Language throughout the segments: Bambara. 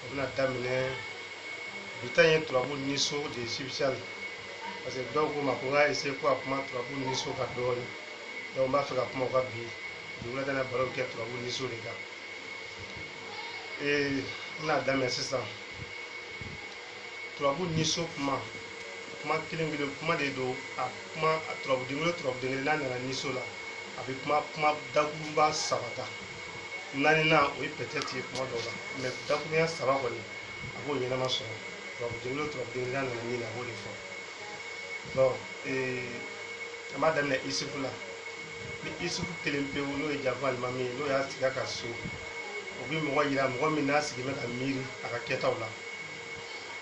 o bɛna daminɛ bi ta ye turabu ni so de ye spécial parce que dɔw ko n ma ko n ka essayer ko a kuma turabu ni so kan dɔɔni donc n b'a fɛ ka kuma o kan bi dugulata na baro kɛ turabu ni so de kan ee n bɛna daminɛ sisan turabu ni so kuma kuma kelen kelen kuma de don a kuma turabu den kelen turabu den kelen n'a nana ni so la a bɛ kuma kuma dakurunba saba ta naaninan o ye peut-être ye tuma dɔw la mais dakurunya saba kɔni a b'o ɲɛnama sɔrɔ turabu den kelen turabu den kelen nana min na a b'o de fɔ donc an b'a daminɛ isufu la ni isufu kelen pewu n'o ye janfa alimami ye n'o y'a sigi a ka so o bɛ mɔgɔ yira mɔgɔ min n'a sigi bɛ ka miiri a ka kɛtaw la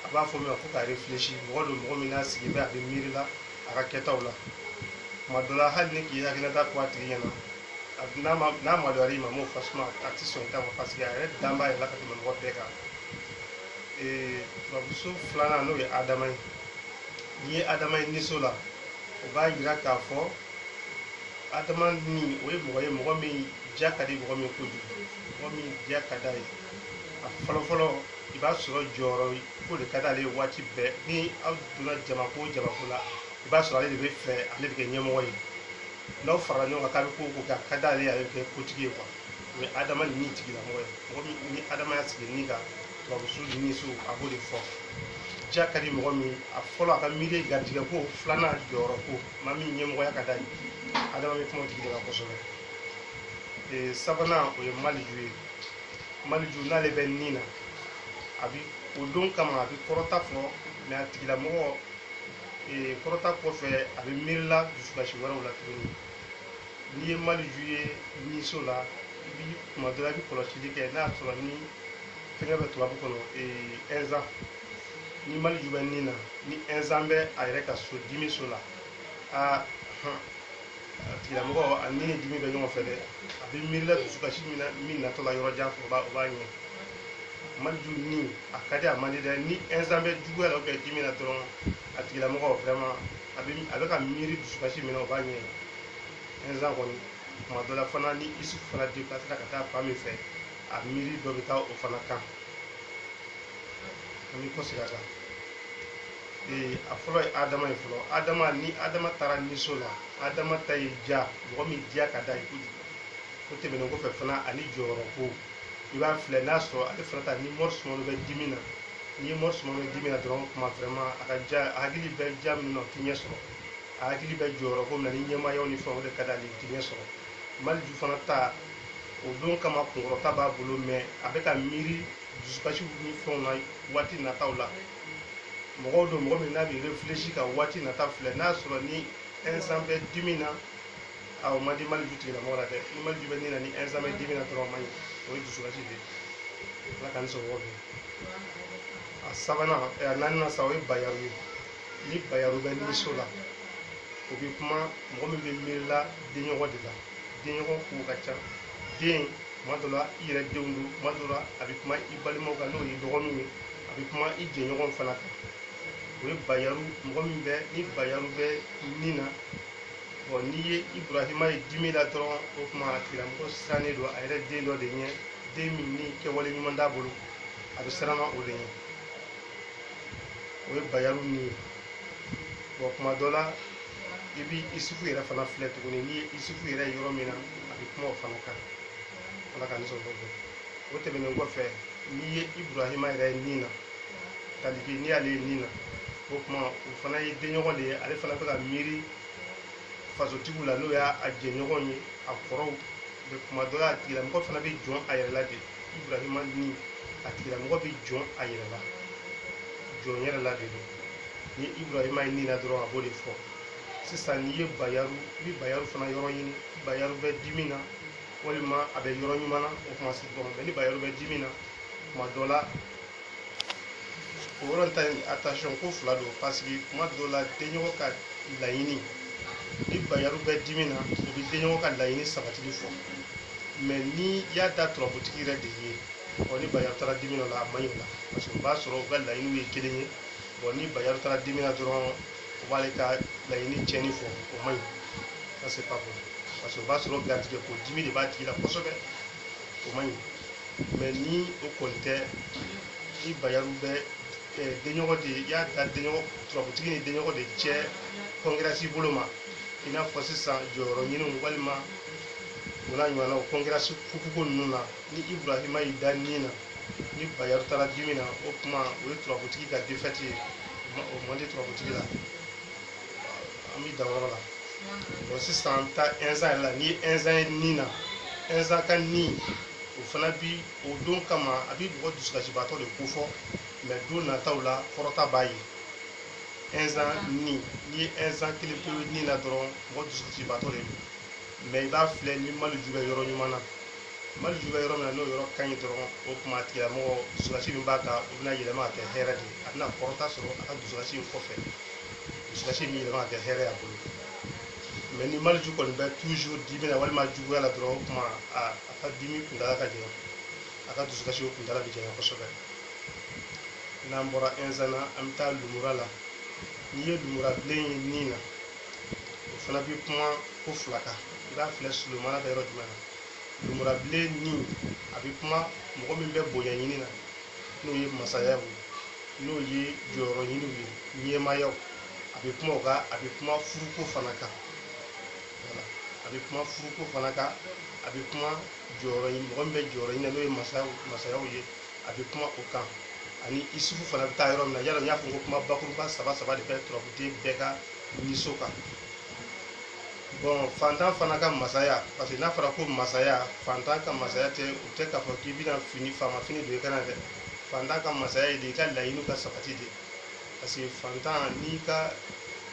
a b'a fɔ min ma ko ka refilɛsi mɔgɔ don mɔgɔ min n'a sigi bɛ a bɛ miiri la a ka kɛtaw la tuma dɔ la hali n'i k'i hakilila ta fɔ a tigi ɲɛna n'a ma n'a maloyara i ma m'o fasuma a tɛ sɔn i ta ma paseke a yɛrɛ dan b'a yɛrɛ la ka tɛmɛ mɔgɔ bɛɛ kan ee turabuso filanan n'o ye adama ye n'i ye adama ye niso la o b'a yira k'a fɔ adama ni o ye mɔgɔ ye mɔgɔ min diya ka di mɔgɔ min kojugu mɔgɔ min diya ka d'a ye a fɔlɔfɔlɔ i b'a sɔrɔ jɔyɔrɔ ko de ka d'ale ye waati bɛɛ ni aw donna jamako o jamako la i b'a sɔrɔ ale de b'a fɛ ale de bɛ kɛ ɲɛmɔgɔ ye n'aw farala ɲɔgɔn kan k'aw bɛ ko o ko kɛ a ka d'ale ye a bɛ kɛ kotigi ye quoi mais adama ni min tigilamɔgɔ ye mɔgɔ min ni adama y'a sigi ni kan turabu so ni so a b'o de fɔ ja ka di mɔgɔ min a fɔlɔ a ka miiri ye garijɛgɛ ko filanan jɔyɔrɔ ko maa min ɲɛmɔgɔya ka d'a ye adama bɛ kuma o tigi de kan kosɛbɛ ee sabanan o ye maliju ye maliju n'ale bɛ ni na a bi o don kama a bi kɔrɔta fɔ mais a tigilamɔgɔ ee kɔrɔta kɔfɛ a bɛ miirila dusukasi wɛrɛw la tuguni n'i ye maliju ye niso la i bi tuma dɔ la i bɛ kɔlɔsili kɛ n'a sɔrɔ ni fɛnkɛ bɛ turabu kɔnɔ ɛnzan ni maliju bɛ nin na ni ɛnzan bɛ a yɛrɛ ka so dimi so la aa tigilamɔgɔ ani ni dimi bɛ ɲɔgɔn fɛ dɛ a bɛ miirila dusukasi min na min natɔ la yɔrɔ jan fɛ o b'a o b'a ɲɛ maliju ni a ka di a man di dɛ ni ɛnsan bɛ juguya la ou bien dimi na dɔrɔn a tigilamɔgɔ vraiment a bɛ a bɛ ka miiri dusukasi min na o b'a ɲɛ ɛnsan kɔni tuma dɔ la fana ni isu fana deplasela ka taa fan min fɛ a miiri dɔ bɛ taa o fana kan an bɛ kɔsegin a kan ee a fɔlɔ ye adama ye fɔlɔ adama ni adama taara niso la adama ta ye ja mɔgɔ min diya ka d'a ye kojugu o tɛmɛnen kɔfɛ fana ani jɔyɔrɔ ko i b'a filɛ n'a sɔrɔ ale fana ta ni mɔri sumano bɛ dimi na n'i ye mɔri sumano bɛ dimi na dɔrɔn kuma vraiment a ka ja a hakili bɛ ja min na o ti ɲɛ sɔrɔ a hakili bɛ jɔyɔrɔ ko min na ni ɲɛmaayaw ni fɛnw de ka d'ale ye o ti ɲɛ sɔrɔ maliju fana ta o don kama kunkɔrɔta b'a bolo mɛ a bɛ ka miiri dusukasiw ni fɛnw na waati nataw la mɔgɔ don mɔgɔ min n'a bɛ refilɛsi ka waati nata filɛ n'a sɔrɔ ni ɛnsan bɛ dimi na a o man di maliju tigilamɔgɔ la dɛ ni maliju bɛ ni na ni ɛnsan bɛ dimi na dɔrɔn a man ɲi o ye dusukasi de ye ala k'an sɔrɔ o fɛ a sabanan a naaninan sa o ye bayaru ye ni bayaru bɛ niso la o bɛ kuma mɔgɔ min bɛ miirila denɲɔgɔn de la denɲɔgɔn kow ka ca den tuma dɔ la i yɛrɛ denw don tuma dɔ la a bɛ kuma i balimaw kan n'o ye dɔgɔninw ye a bɛ kuma i jɛɲɔgɔn fana kan o ye bayaru mɔgɔ min bɛ ni bayaru bɛ ni na bɔn n'i ye iburahima ye dimi la dɔrɔn o tuma a tigilamɔgɔ sirannen don a yɛrɛ den dɔ de ɲɛ den min ni kɛwale ɲuman t'a bolo a bɛ siranna o de ɲɛ o ye bayaru ni ye bɔn kuma dɔ la i bi isufu yɛrɛ fana filɛ tuguni n'i ye isufu yɛrɛ ye yɔrɔ min na a bɛ kuma o fana kan ala ka nisɔn kɔfɛ o tɛmɛnen kɔfɛ n'i ye iburahima yɛrɛ ye ni na tariki n'i y'ale ye ni na o tuma o fana ye denɲɔgɔn de ye ale fana bɛ ka miiri fasotigiw la n'o y'a jɛɲɔgɔn ye a kɔrɔw bɛ kuma dɔ la a tigilamɔgɔ fana bɛ jɔn a yɛrɛ la de iburahima ni a tigilamɔgɔ bɛ jɔn a yɛrɛ la jɔn yɛrɛ la de don ni iburahima ye ni na dɔrɔn a b'o de fɔ sisan n'i ye bayaru i bɛ bayaru fana yɔrɔ ɲini bayaru bɛ dimi na walima a bɛ yɔrɔ ɲuman na o kuma se dɔrɔn mɛ ni bayaru bɛ dimi na kuma dɔ la o yɔrɔ ta in attention ko fila don parce que kuma dɔ la denɲɔgɔn ka laɲini ni bayaru bɛ dimi na o bɛ denɲɔgɔn ka laɲini sabatili fɔ mɛ n'i y'a da turabutigi yɛrɛ de ye ɔ ni bayaru taara dimi na o la a man ɲi o la parce que o b'a sɔrɔ u ka laɲiniw ye kelen ye bɔn ni bayaru taara dimi na dɔrɔn o b'ale ka laɲini tiɲɛni fɔ o man ɲi ça c'est pas bon parce que o b'a sɔrɔ garijɛgɛ ko dimi de b'a tigi la kosɛbɛ o man ɲi mais ni o kɔni tɛ ni bayaru bɛ eh, denɲɔgɔn de i y'a da denɲɔgɔn turabutigi ni denɲɔgɔn de cɛ concurrence bolo ma i n'a fɔ sisan jɔyɔrɔ ɲiniw walima o n'a ɲɔgɔnnaw concurrence kukuko ninnu na ni ibrahima y'i da nin na ni bayɛri taara dimi na o kuma o ye turabutigi ka defɛti ye o man di turabutigi la an bɛ dan yɔrɔ la bɔn sisan an bɛ taa ɛnzan yɛrɛ la n'i ye ɛnzan ye nin na ɛnzan ka ni o fana bi o don kama a bi mɔgɔ dusukasibaatɔ de ko fɔ mɛ don nataw la kɔrɔta b'a ye ɛnzan ni n'i ye ɛnzan kelen pewu nin na dɔrɔn mɔgɔ dusukasibaatɔ de don mɛ i b'a filɛ ni maleju bɛ yɔrɔ ɲuman na maleju bɛ yɔrɔ min na n'o yɔrɔ ka ɲi dɔrɔn o kuma tigilamɔgɔ dusukasi min b'a kan o bɛna yɛlɛma ka kɛ hɛrɛ de ye a bɛna kɔrɔta sɔrɔ a ka dusukasi in kɔfɛ dusukasi bɛ yɛlɛma ka kɛ hɛrɛ ye a bolo mɛ ni maleju kɔni bɛ toujours dimi na walima juguya la dɔrɔn o kuma a a ka dimi kuntala ka janya a ka dusukasi o kuntala bɛ janya kosɛbɛ n'an bɔra ɛnzan na an bɛ taa lumura la n'i ye lumura bilen ye nin na o fana bɛ kuma ko fila kan i b'a filɛ sulomana bɛ yɔrɔ jumɛn na lumurabilen ni a bɛ kuma mɔgɔ min bɛ bonya ɲini na n'o ye masaya ye n'o ye jɔyɔrɔ ɲiniw ye ɲɛmaayaw a bɛ kuma o kan a bɛ kuma furuko fana kan a bɛ kuma furuko fana kan a bɛ kuma jɔyɔrɔ ɲini mɔgɔ min bɛ jɔyɔrɔ ɲini na n'o ye masayaw masayaw ye a bɛ kuma o kan ani isufu fana bɛ taa yɔrɔ min na yala n y'a fɔ ko kuma bakuruba saba saba de bɛ turabuden bɛɛ ka ni so kan bɔn fantan fana ka masaya parce que n'a fɔra ko masaya fantan ka masaya tɛ u tɛ k'a fɔ k'i bɛna fini faama fini don i kan na dɛ fantan ka masaya ye de i ka laɲini ka sabati de parce que fantan n'i ka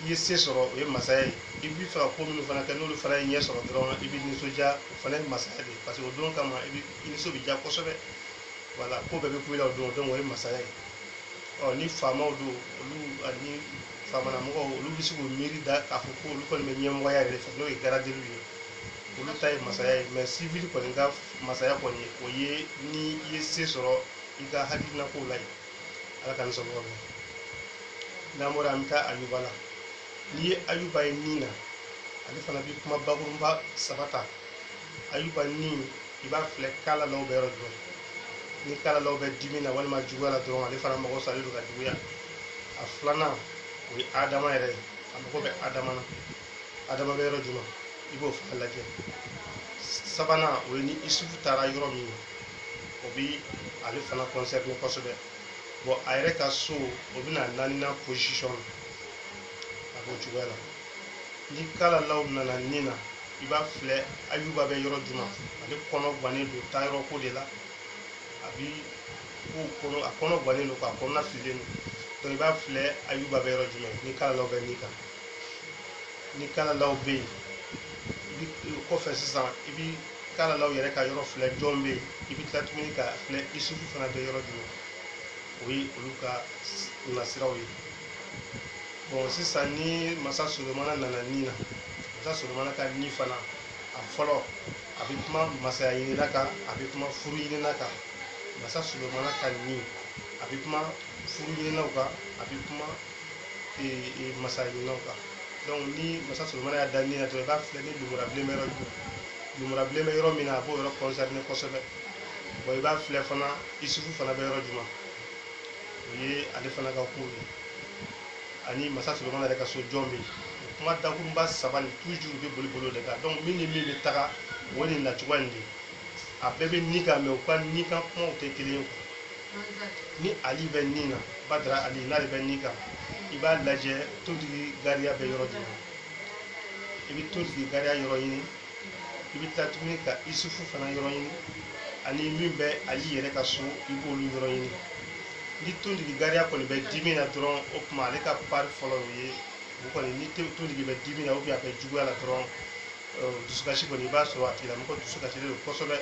i ye se sɔrɔ o ye masaya ye i b'a fɛ ka ko minnu fana kɛ n'olu fana ye ɲɛ sɔrɔ dɔrɔn i bɛ nisɔndiya o fana ye masaya de ye parce que o don kama i bɛ i nisɔn bɛ diya kosɛbɛ wala ko bɛɛ bɛ kun i la o don donc o ye masaya ye ɔ ni faamaw don olu ani faamana mɔgɔw olu bɛ se k'u miiri da k'a fɔ ko olu kɔni bɛ ɲɛmɔgɔya yɛrɛ fɛ n'o ye garadeliw ye olu ta ye masaya ye mɛ sivili kɔni ka masaya kɔni ye o ye ni i ye se sɔrɔ i ka hakilina kow la ye ala ka nisɔndiya ma n'an bɔra an bɛ taa ayuba la n'i ye ayuba ye nin na ale fana bɛ kuma bakurunba saba ta ayuba ni i b'a filɛ kalalaw bɛ yɔrɔ jumɛn ni kalalaw bɛ dimi na walima juguya la dɔrɔn ale fana mago salen don ka juguya a filanan o ye adama yɛrɛ ye a mago bɛ adama na adama bɛ yɔrɔ jumɛn i b'o fana lajɛ sabanan o ye ni isufu taara yɔrɔ min na o bi ale fana kɔnsɛrine kosɛbɛ bɔn a yɛrɛ ka so o bɛna naaninan posisɔn a b'o cogoya la ni kalalaw nana nin na i b'a filɛ ayuba bɛ yɔrɔ jumɛn ale kɔnɔ gannen don taa yɔrɔ ko de la a bi ko kɔnɔ a kɔnɔ gannen don k'a kɔnɔna fililen don donc i b'a filɛ ayuba bɛ yɔrɔ jumɛn ni kalalaw bɛ ni kan ni kalalaw bɛ yen i bi kɔfɛ sisan i bi kalalaw yɛrɛ ka yɔrɔ filɛ jɔn bɛ yen i bi tila tuguni ka filɛ isufu fana bɛ yɔrɔ jumɛn o ye olu ka nasiraw ye bɔn sisan ni masa solomana nana ni na masa solomana ka ni fana a fɔlɔ a bɛ kuma masaya ɲinina kan a bɛ kuma furu ɲinina kan masa solomana ka ni a bɛ kuma furu ɲininaw kan a bɛ kuma e, e, masaya ɲininaw kan donc ni masa solomana y'a da ni na dɔrɔn i b'a filɛ ni lumura bilen bɛ yɔrɔ jumɛn lumura bilen bɛ yɔrɔ min na a b'o yɔrɔ kɔnsɛrine kosɛbɛ bɔn i b'a filɛ fana isufu fana bɛ yɔrɔ jumɛn o ye ale fana ka kow ye ani masa solomana yɛrɛ ka so jɔn bɛ yen kuma dakunba saba nin toujours bɛ boli bolo de kan donc min ni min bɛ taga o nin nacogoya nin de a bɛɛ bɛ ni kan mɛ u ka ni kan kumaw tɛ kelen ye ni ali bɛ ni na badara ali n'ale bɛ ni kan i b'a lajɛ tontigi gariya bɛ yɔrɔ jumɛn i bɛ tontigi gariya yɔrɔ ɲini i bɛ taa tuguni ka isufu fana yɔrɔ ɲini ani min bɛ ali yɛrɛ ka so i b'olu yɔrɔ ɲini ni tontigi gariya kɔni bɛ dimi na dɔrɔn o tuma ale ka pari fɔlɔ o ye o kɔni ni tontigi bɛ dimi na ubiyɛn a bɛ juguya la dɔrɔn dusukasi kɔni i b'a sɔrɔ a tigilamɔgɔ dusukasilen don kosɛbɛ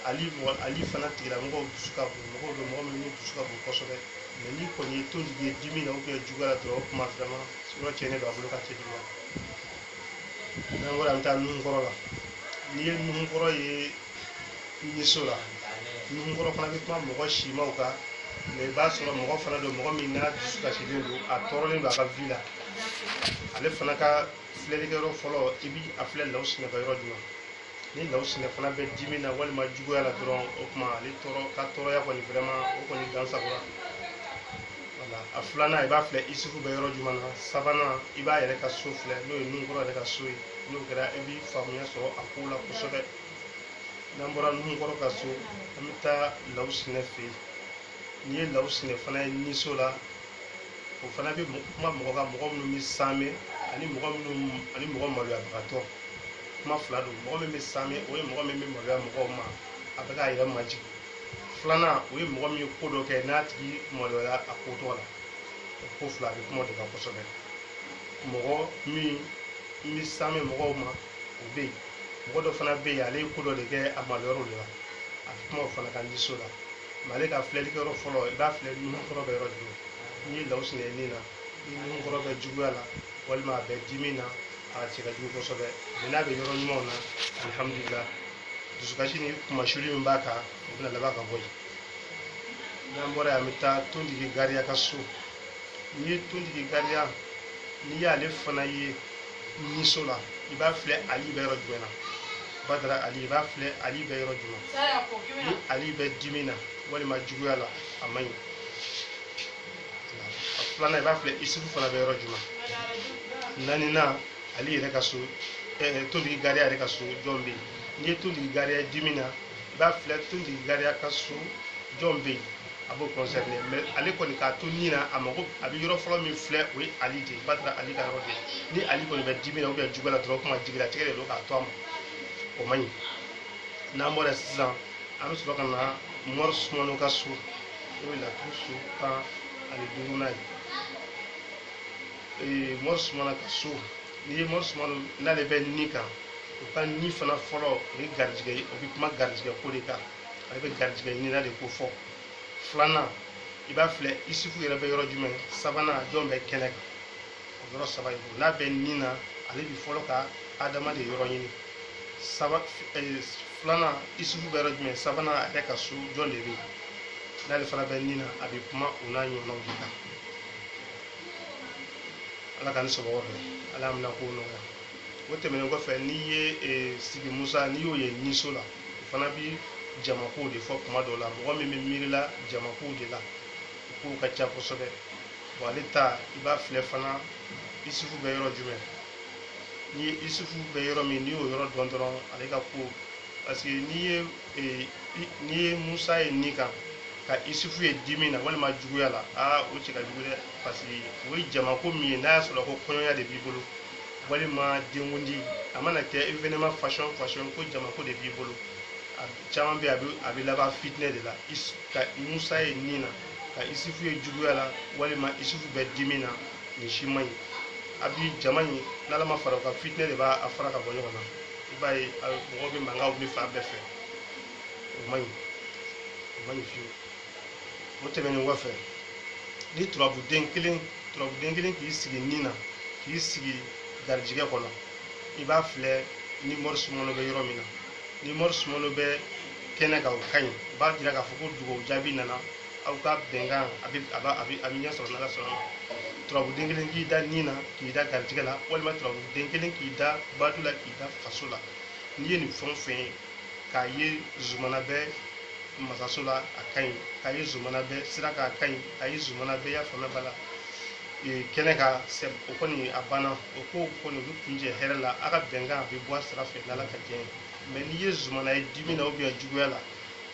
ali mɔgɔ ali fana tigilamɔgɔw dusu ka bon mɔgɔw bɛ mɔgɔ minnu dusu ka bon kosɛbɛ mɛ n'i kɔni ye tontigi ye dimi na ubiyɛn juguya la dɔrɔn o tuma fɛnɛ yɔrɔ cɛnnen don a bolo ka cɛ juguya n'an bɔra an bɛ taa nuhunkɔrɔ la n'i ye nuhunkɔrɔ ye niso la nuhunkɔrɔ fana bɛ kuma mɔgɔ simaw kan mɛ i b'a sɔrɔ mɔgɔ fana don mɔgɔ min n'a dusu kasilen don a tɔɔrɔlen don a ka vi la ale fana ka filɛlikɛyɔrɔ fɔlɔ i bi a filɛ law sinɛ ka yɔrɔ jumɛn ni law sinɛ fana bɛ dimi na walima juguya la dɔrɔn o tuma ale tɔɔrɔ ka tɔɔrɔya kɔni vraiment o kɔni dansagonna wala a filanan i b'a filɛ isufu bɛ yɔrɔ jumɛn na sabanan i b'a yɛrɛ ka so filɛ n'o ye nunkɔrɔ yɛrɛ ka so ye n'o kɛra i bi faamuya sɔrɔ a ko la kosɛbɛ n'an bɔra nunkɔrɔ ka so an bɛ taa law sinɛ fɛ yen n'i ye law sinɛ fana ye niso la o fana bɛ kuma mɔgɔ ka mɔgɔ minnu bɛ saame ani mɔgɔ minnu ani mɔgɔ maloyabagatɔ kuma fila don mɔgɔ min bɛ saame o ye mɔgɔ min bɛ maloya mɔgɔw ma a bɛ k'a yɛrɛ majigin filanan o ye mɔgɔ min ye ko dɔ kɛ n'a tigi maloyara a ko tɔgɔ la o ko fila a bɛ kuma de kan kosɛbɛ mɔgɔ min bɛ saame mɔgɔw ma o bɛ yen mɔgɔ dɔ fana bɛ yen ale ye ko dɔ de kɛ a maloyara o de la a bɛ kuma o fana kan niso la mali ka filɛli kɛyɔrɔ fɔlɔ i b'a filɛ nunkɔrɔ bɛ yɔrɔ jumɛn n'i ye lawsinɛ ni na ni nunkɔrɔ bɛ juguya la walima a bɛ dimi na a cɛ ka jugu kosɛbɛ mais n'a bɛ yɔrɔ ɲumanw na alihamudulila dusukasi ni kunmasuli min b'a kan o bɛna laban ka bɔ yen n'an bɔra yan an bɛ taa tontigi gariya ka so n'i ye tontigi gariya n'i y'ale fana ye niso la i b'a filɛ ali bɛ yɔrɔ jumɛn na badara ali i b'a filɛ ali bɛ yɔrɔ jumɛn ni ali bɛ dimi na walima juguya la a man ɲi a filanan i b'a filɛ isufu fana bɛ yɔrɔ jumɛn naaninan ali yɛrɛ ka so eh, tontigi gariya yɛrɛ ka so jɔn bɛ yen n'i ye tontigi gariya dimi na i b'a filɛ tontigi gariya ka so jɔn bɛ yen a b'o concerner mais ale kɔni k'a to ni na a mago a bɛ yɔrɔ fɔlɔ min filɛ o ye ali de ye badara ali ka yɔrɔ de ni ali kɔni bɛ dimi na ou bien juguya la dɔrɔn kuma jigilatigɛ de don k'a to a ma o man ɲi n'an bɔra sisan an bɛ sɔrɔ ka na mɔri sumano ka so o ye laturu so tan ani duurunan ye ee mɔri sumana ka so n'i ye mɔri sumana n'ale bɛ ni kan o ka ɲi fana fɔlɔ o ye garijigɛ ye o bɛ kuma garijigɛ ko de kan ale bɛ garijigɛ ɲinina de ko fɔ filanan i b'a filɛ isufu yɛrɛ bɛ yɔrɔ jumɛn sabanan jɔn bɛ kɛnɛ kan o yɔrɔ saba ye ko n'a bɛ ni na ale bi fɔlɔ ka adama de yɔrɔ ɲini saba eh, filanan isufu bɛ yɔrɔ jumɛn sabanan a yɛrɛ ka so jɔn de bɛ yen n'ale fana bɛ ni na a bɛ kuma o n'a ɲɔgɔnnaw de kan ala ka ni sɔgɔma fɛ ala y'a minɛko nɔgɔya o tɛmɛnen kɔfɛ n'i ye eh, sigi musa n'i y'o ye niso la o fana bi jamakow de fɔ kuma dɔw la mɔgɔ min bɛ miirila jamakow de la o kow ka ca kosɛbɛ wa ale ta i b'a filɛ fana isufu bɛ yɔrɔ jumɛn ni isufu bɛ yɔrɔ min n'i y'o yɔrɔ dɔn dɔrɔn ale ka ko parce que n'i ye ee n'i ye musa ye ni kan ka isufu ye dimi na walima juguya la aa o cɛ ka jugu dɛ parce que o ye jamako min ye n'a y'a sɔrɔ ko kɔɲɔya de b'i bolo walima denkundi a mana kɛ événement façon façon ko jamako de b'i bolo a caman bɛ a bɛ laban fitinɛ de la ka musa ye ni na ka isufu ye juguya la walima isufu bɛ dimi na nin si man ɲi a bi jama in n'ala ma fara o kan fitinɛ de b'a fara ka bɔ ɲɔgɔn na i b'a ye mɔgɔw bɛ mankan wuli fan bɛɛ fɛ o man ɲi o man ɲi fewu o tɛmɛnen kɔfɛ ni turabuden kelen turabuden kelen k'i sigi ni na k'i sigi garijigɛ kɔnɔ i b'a filɛ ni mɔri sumano bɛ yɔrɔ min na ni mɔri sumano bɛ kɛnɛ kan o ka ɲi o b'a jira k'a fɔ ko dugawu jaabi nana aw ka bɛnkan a bɛ a b'a a bɛ a bɛ ɲɛ sɔrɔ n'ala sɔnna a ma turabuden kelen k'i da ni na k'i da garijɛgɛ la walima turabuden kelen k'i da badu la k'i da faso la n'i ye nin fɛn o fɛn ye k'a ye zumana bɛ masaso la a ka ɲi k'a ye zumana bɛ sira kan a ka ɲi k'a ye zumana bɛ y'a faamuya b'a la ee, kɛnɛ kan sɛ o kɔni a banna o ko kɔni o bɛ kuncɛ hɛrɛ la a ka bɛnkan a bɛ bɔ a sira fɛ n'ala ka diɲɛ ye mɛ n'i ye zumana ye dimi na ubiyɛn juguya la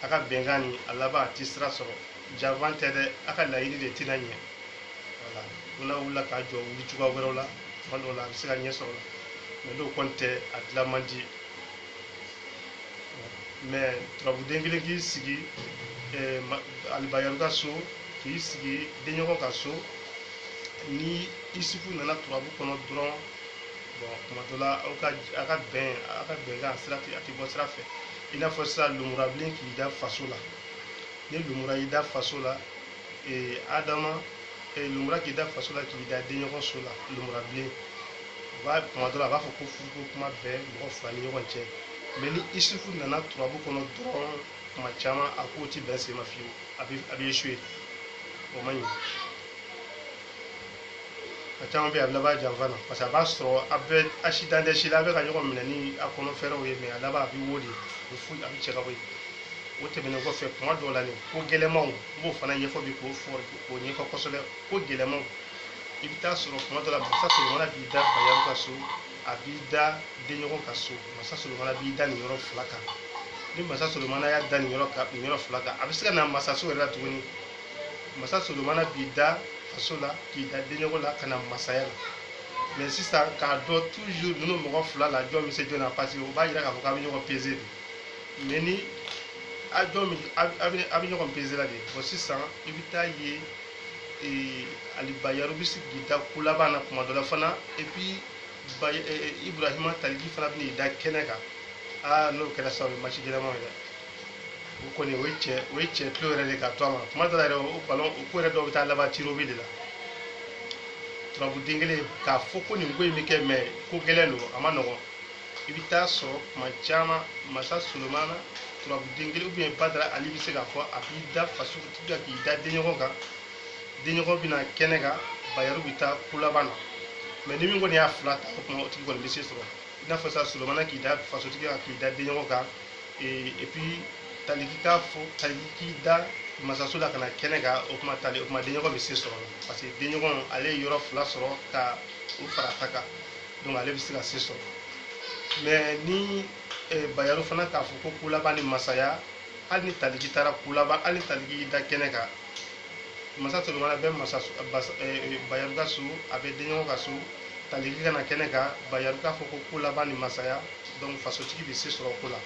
a ka bɛnkan ni a laban a ti sira sɔrɔ janfa tɛ dɛ a ka laɲini de tɛna ɲɛ wala ko n'a wulila ka jɔ wuli cogoya wɛrɛw la tuma dɔw la a bɛ se ka ɲɛ sɔrɔ la mɛ n'o kɔni tɛ a dilan man di mɛ turabuden kelen k'i sigi eh, ma- alibayaru ka so k'i sigi denɲɔgɔn ka so ni isufu nana turabu kɔnɔ dɔrɔn bɔn tuma dɔ la aw ka a ka bɛn a ka bɛnkan sira tɛ a tɛ bɔ sira fɛ i n'a fɔ sisan lumurabilen k'i da faso la ni lumura y'i da faso la ee adama ee lumura k'i da faso la k'i da denɲɔgɔn so la lumurabilen u b'a kuma dɔ la a b'a fɔ ko furuko kuma bɛ mɔgɔ fila ni ɲɔgɔn cɛ mɛ ni isufu nana turabu kɔnɔ dɔrɔn kuma caman a ko ti bɛn sen ma fiyewu a bɛ a bɛ esuwe o man ɲi a caman bɛ yen a bɛ laban janfa na parce que a b'a sɔrɔ a bɛ asidan tɛ si la a bɛ ka ɲɔgɔn minɛ ni a kɔnɔ fɛɛrɛw ye mɛ a laban a bɛ wo de a bɛ fu a bɛ cɛ ka bɔ yen o tɛmɛnen kɔfɛ kuma dɔw la nin ko gɛlɛnmanw n b'o fana ɲɛfɔ bi k'o fɔ k'o ɲɛfɔ kosɛbɛ ko gɛlɛnmanw i bɛ taa sɔrɔ kuma dɔ la masa solomana b'i da bayaru ka so a b'i da denɲɔgɔn ka so masa solomana b'i da nin yɔrɔ fila kan ni masa solomana y'i da nin yɔrɔ kan nin yɔrɔ fila kan a bɛ se ka na masaso yɛrɛ la tuguni masa solomana b'i da faso la k'i da denɲɔgɔn la ka na masaya la mɛ sisan k'a dɔn toujours ninnu mɔgɔ fila la jɔn bɛ se jɔn na parce que o b'a yira k'a fɔ k'a bɛ ɲɔgɔn peze de mɛ ni a jɔn bɛ a bɛ a bɛ ɲɔgɔn peze la de bɔn sisan i bɛ taa ye ee ali bayaru bɛ se k'i da ko laban na kuma dɔ la fana et puis ba ibrahima tariki fana bɛ n'i da kɛnɛ kan aa n'o kɛra sisan o ye maci gɛlɛnmanw ye dɛ o kɔni o ye cɛ o ye cɛ tulo yɛrɛ de ka to a ma kuma dɔ la yɛrɛ o balon o ko yɛrɛ dɔw bɛ taa laban tirobi de la turabu den kelen k'a fɔ ko nin ko in bɛ kɛ mɛ ko gɛlɛn don a ma nɔgɔn i bɛ taa sɔrɔ kuma caman masa solomana turabu den kelen ubiyɛn badara ali bɛ se k'a fɔ a b'i da faso kan k'i da denɲɔgɔn kan denɲɔgɔn bɛna kɛnɛ kan bayaru bɛ taa ko laban na mɛ ni min kɔni y'a fila ta o tuma o tigi kɔni bɛ se sɔrɔ i n'a fɔ masa solomana k'i da fasotigi kan k'i da denɲɔgɔn kan et puis taliki k'a fɔ taliki da masaso la ka na kɛnɛ kan o kuma tali o kuma denɲɔgɔn bɛ se sɔrɔ parce que denɲɔgɔn ale ye yɔrɔ fila sɔrɔ ka o fara ta kan donc ale bɛ se ka se sɔrɔ mais ni eh, bayaru fana k'a fɔ ko kolaban ni masaya hali ni taliki taara kolaban hali ni taliki y'i da kɛnɛ kan masa solomana bɛ masa bayaru ka so a bɛ denɲɔgɔn ka so taliki ka na kɛnɛ kan bayaru k'a fɔ ko kolaban ni masaya donc fasotigi bɛ se sɔrɔ ko la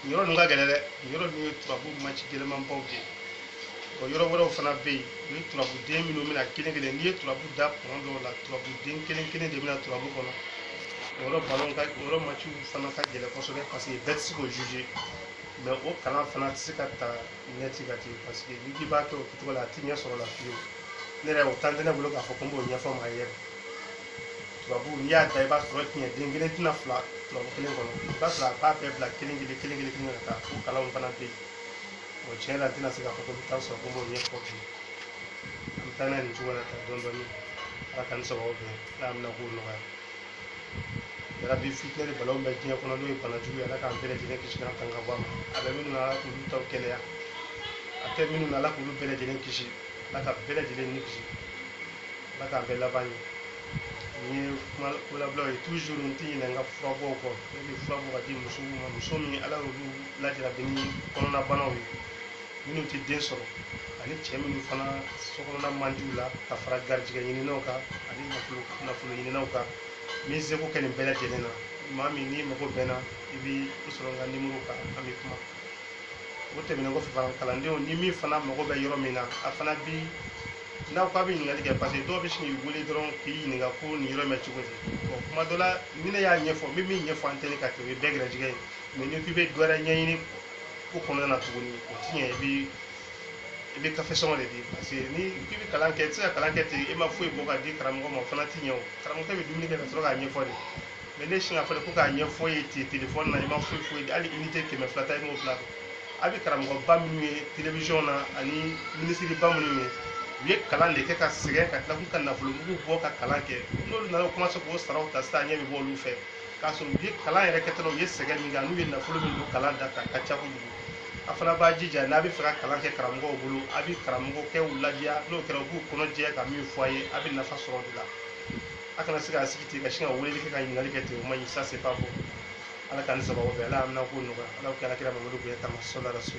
nin yɔrɔ ninnu ka gɛlɛn dɛ nin yɔrɔ ninnu ye turabu maci gɛlɛmanbaw de ye o yɔrɔ wɛrɛw fana bɛ yen u ye turabuden minnu bɛ na kelen kelen n'i ye turabu da kɔnɔ dɔw la turabuden kelen kelen de bɛ na turabu kɔnɔ o yɔrɔ balon ka o yɔrɔ maciw fana ka gɛlɛn kosɛbɛ parce que bɛɛ tɛ se k'o juger mais o kalan fana tɛ se ka ta ɲɛ ti ka ten parce que n'i k'i b'a kɛ o kɛcogo la a ti ɲɛ sɔrɔ la fiyewu ne yɛrɛ o temps tɛ ne bolo k'a fɔ ko n b'o ɲɛfɔ maa ye turabu n'i y'a da i b'a sɔrɔ tiɲɛden kelen tɛ na fila turabu kelen kɔnɔ i b'a sɔrɔ a b'a bɛɛ bila kelen kelen kelen kelen kelen ka taa fo kalanw fana bɛ yen o tiɲɛ la n tɛna se k'a fɔ ko n bɛ taa sɔrɔ ko n b'o ɲɛfɔ bi an bɛ taa n'a ye nin cogo la tan dɔɔni dɔɔni ala k'an ni sababu bɛn ala bɛna ko nɔgɔya yala bi fitinɛ ni balawu bɛ diɲɛ kɔnɔ n'o ye bana jugu ye ala k'an bɛɛ lajɛlen kisi k'an tanga bɔ a ma a bɛ minnu na ala k'olu taw kɛnɛya a tɛ minnu na ala k'olu bɛɛ lajɛlen kisi ala ka bɛɛ lajɛlen ni kisi ala k'an bɛɛ laban ɲɛ nin ye kuma kolabilaw ye toujours n tɛ ɲinɛ n ka furabɔw kɔ ne bɛ fura bɔ ka di musow ma muso min ala y'olu lajarabi ni kɔnɔnabanaw ye minnu tɛ den sɔrɔ ani cɛ minnu fana sokɔnɔna man di u la ka fara garijɛgɛ ɲininaw kan ani nafolo nafolo ɲininaw kan n bɛ seko kɛ nin bɛɛ lajɛlen na maa min n'i mago bɛ n na i bɛ n sɔrɔ n ka nimoro kan an bɛ kuma o tɛmɛnen kɔfɛ fana kalandenw ni min fana mago bɛ yɔrɔ min na a fana bi n'aw k'a bɛ ɲininkali kɛ parce que dɔw bɛ sin k'i wele dɔrɔn k'i ɲininka ko nin yɔrɔ in bɛ cogo di bon kuma dɔ la ni ne y'a ɲɛfɔ n bɛ min ɲɛfɔ antenne kan kɛ o ye bɛɛ garijɛgɛ ye mais n'i k'i bɛ dɔ wɛrɛ ɲɛɲini ko kɔnɔna na tuguni o ti ɲɛ i bi i bɛ kafe sɔngɔ de di parce que n'i k'i bɛ kalan kɛ i tɛ se ka kalan kɛ ten e ma foyi bɔ ka di karamɔgɔ ma o fana ti ɲɛ o karamɔgɔkɛ bɛ dumuni kɛ ka sɔrɔ k'a ɲɛfɔ de mais n'e sinna fɔlɔ ko k'a ɲɛfɔ i ye ten telefɔni na i ma foyi foyi hali unité kɛmɛ fila ta i m'o fili a bɛ karamɔgɔba minnu ye telewisɔn na ani minisiriba minnu ye u ye kalan de kɛ ka sɛgɛn ka tila k'u ka nafolo mugu bɔ ka kalan kɛ n'olu nana u kɔmanse k'o saraw ta sisan ɲɛ bɛ bɔ olu fɛ k'a sɔrɔ u ye kalan yɛrɛ kɛtɔla u ye sɛgɛn min kɛ n'u ye nafolo min don kalan da kan ka ca kojugu a fana b'a jija n'a bɛ fɛ ka kalan kɛ karamɔgɔw bolo a bɛ karamɔgɔkɛw ladiya n'o kɛra u b'u kɔnɔ jɛ ka min fɔ a ye a bɛ nafa sɔrɔ o de la a kana se k'a sigi ten ka sin ka weleli kɛ ka ɲininkali kɛ ten o ma ɲi ça c'est pas bon ala k'an ni sababu bɛn ala y'an minɛ ko nɔgɔya ala k'ala kira mamadu bonya kama sɔlɔ la so